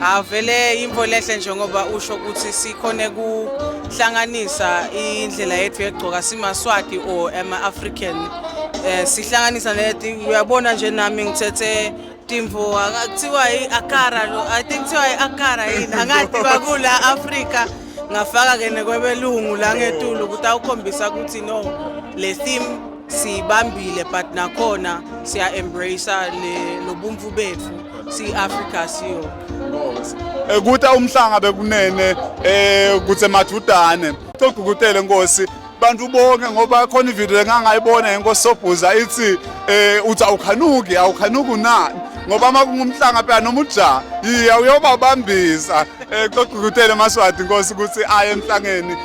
Avele imvo lehle njengoba usho ukuthi sikhone kuhlanganisa indlela yethu yegcoka simaswati or ama-african eh sihlanganisa leti uyabona nje nami ngithethe timvo akuthiwa i-akara lo i think kuthiwa i-akara yini angathi bakula afrika ngafaka ke nekwebelungu la ngetulu ukuthi awukhombisa ukuthi no le theme siyibambile but nakhona siya embrace le lobumfu bethu si Africa siyo ekuthi eh, umhlanga bekunene eh kuthe mathudane cogukutele nkosi bantu bonke ngoba khona ivideo engangayibona yenkosi sobhuza ithi eh uthi awukhanuki awukhanuki na ngoba uma kungumhlanga phela noma ujaha yiya uyobabambisa um eh, cogukutele maswadi nkosi ukuthi aye emhlangeni